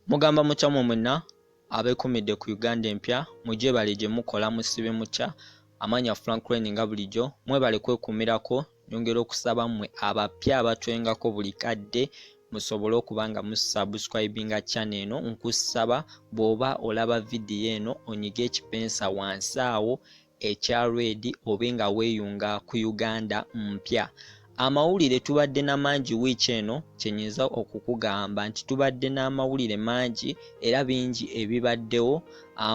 Mugamba mutya mwe mwenna abeekumidde ku Uganda empya mugyebale gye mukola musibe mutya amanya Frank Crane nga bulijjo mwebale kwekuumirako nyongera okusaba mmwe abapya abatwengako buli kadde musobole okuba nga musubscribinga channel eno nkusaba bw'oba olaba vidiyo eno onyige ekipensa wansi awo ekya Red obe nga weyunga ku Uganda mpya. Amawulire tubadde na mangi wiiki eno kyenyinza okukugamba nti tubadde n'amawulire mangi era bingi ebibaddewo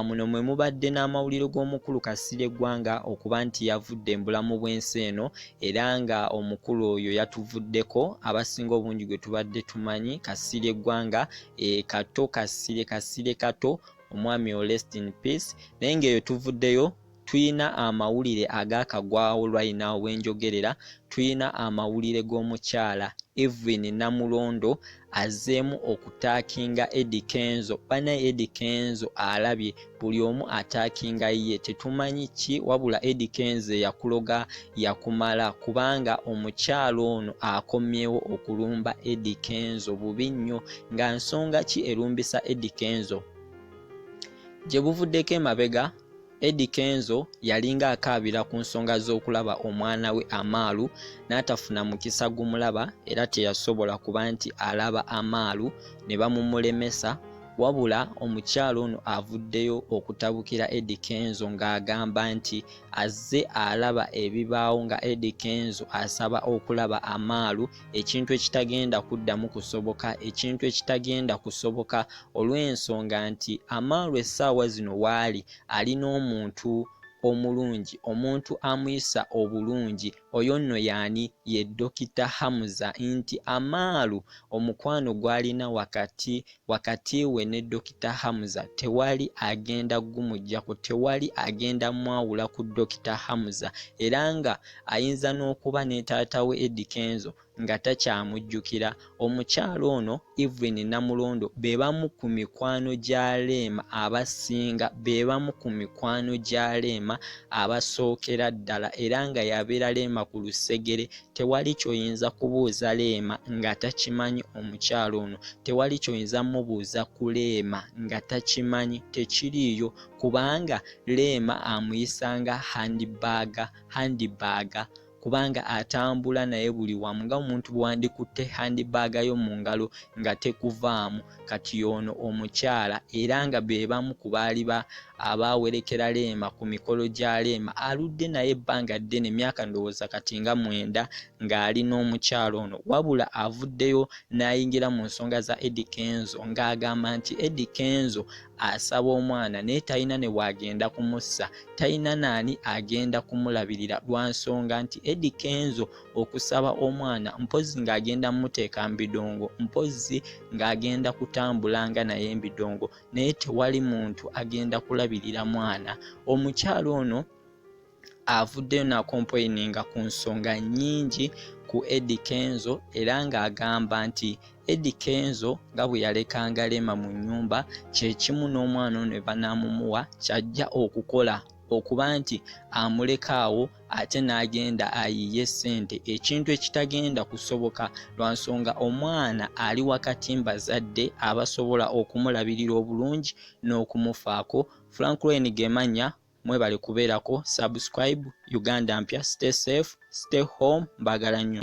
muno mwe mubadde n'amawulire g'omukulu Kasirye Ggwanga okuba nti yavudde mbulamu bw'ensi eno era nga omukulu oyo yatuvuddeko abasinga obungi gwe tubadde tumanyi Kasirye Ggwanga e, Kato Kasirye Kasirye Kato omwami o rest in peace naye ngaeyo tuvuddeyo tuyina amawulire agakagwawo lwayina wenjogerera tuyina amawulire g'omukyala evin namulondo azeemu okutakinga edi kenzo banaye edi kenzo alabye buli omu atakinga ye tetumanyi ki wabula edi kenzo eyakuloga yakumala kubanga omukyala ono akomyewo okulumba Eddy Kenzo bubi nnyo nga nsonga ki erumbisa Eddy Kenzo gye buvuddeko emabega Eddy Kenzo yalinga akaabira ku nsonga z'okulaba omwana we Amaalu n'atafuna mukisa gumulaba era teyasobola kuba nti alaba Amaalu ne bamumulemesa wabula omukyala ono avuddeyo okutabukira Eddy Kenzo ng'agamba nti azze alaba ebibaawo nga Eddy Kenzo asaba okulaba amaalu ekintu ekitagenda kuddamu kusoboka ekintu ekitagenda kusoboka olw'ensonga nti amaalu essaawa zino waali ali n'omuntu omulungi omuntu amuyisa obulungi Oyo nno y'ani? Ye Dokita Hamza. Nti Amaalu omukwano gw'alina wakati wakati we ne Dokita Hamza tewali agenda gumuggyako, tewali agenda mwawula ku Dokita Hamza era ng'ayinza n'okuba ne taata we Eddy Kenzo nga takyamujjukira. Omukyala ono Evelyn Namulondo be bamu ku mikwano gya Leema abasinga be bamu ku mikwano gya Leema abasookera ddala era nga yabeera Leema ku lusegere tewali kyoyinza kubuuza Leema nga takimanyi omukyala ono tewali kyoyinza mubuuza ku Leema nga takimanyi tekiriiyo kubanga Leema amuyisanga handibaaga handibaaga kubanga atambula naye buli wamu nga omuntu bwewandikutte handbag yo mu ngalo nga tekuvaamu kati yoono omukyala era nga bebamu ku baali ba abaawerekera Leema ku mikolo gya Leema aludde naye ebbanga ddene myaka ndowooza kati nga mwenda ng'ali n'omukyala ono wabula avuddeyo n'ayingira mu nsonga za Eddy Kenzo ng'agamba nti Eddy Kenzo asaba omwana naye talina ne waagenda kumussa talina naani agenda kumulabirira lwa nsonga nti edi kenzo okusaba omwana mpozzi ng'agenda muteeka mu bidongo mpozzi ng'agenda kutambula nga naye embidongo naye tewali muntu agenda kulabirira mwana omukyala ono avuddeyo nakompoininga ku nsonga nyingi ku edi kenzo era ng'agamba nti edi kenzo nga bwe yalekanga leema mu nnyumba kyekimu n'omwana ono ebanaamumuwa kyajja okukola okuba nti amulekaawo ate n'agenda ayiye ssente ekintu ekitagenda kusoboka lwa nsonga omwana ali wakati mbazadde abasobola okumulabirira obulungi n'okumufaako franklin gemanya Mwebale kubeerako subscribe. Uganda mpya stay safe, stay home. Mbagala nnyo.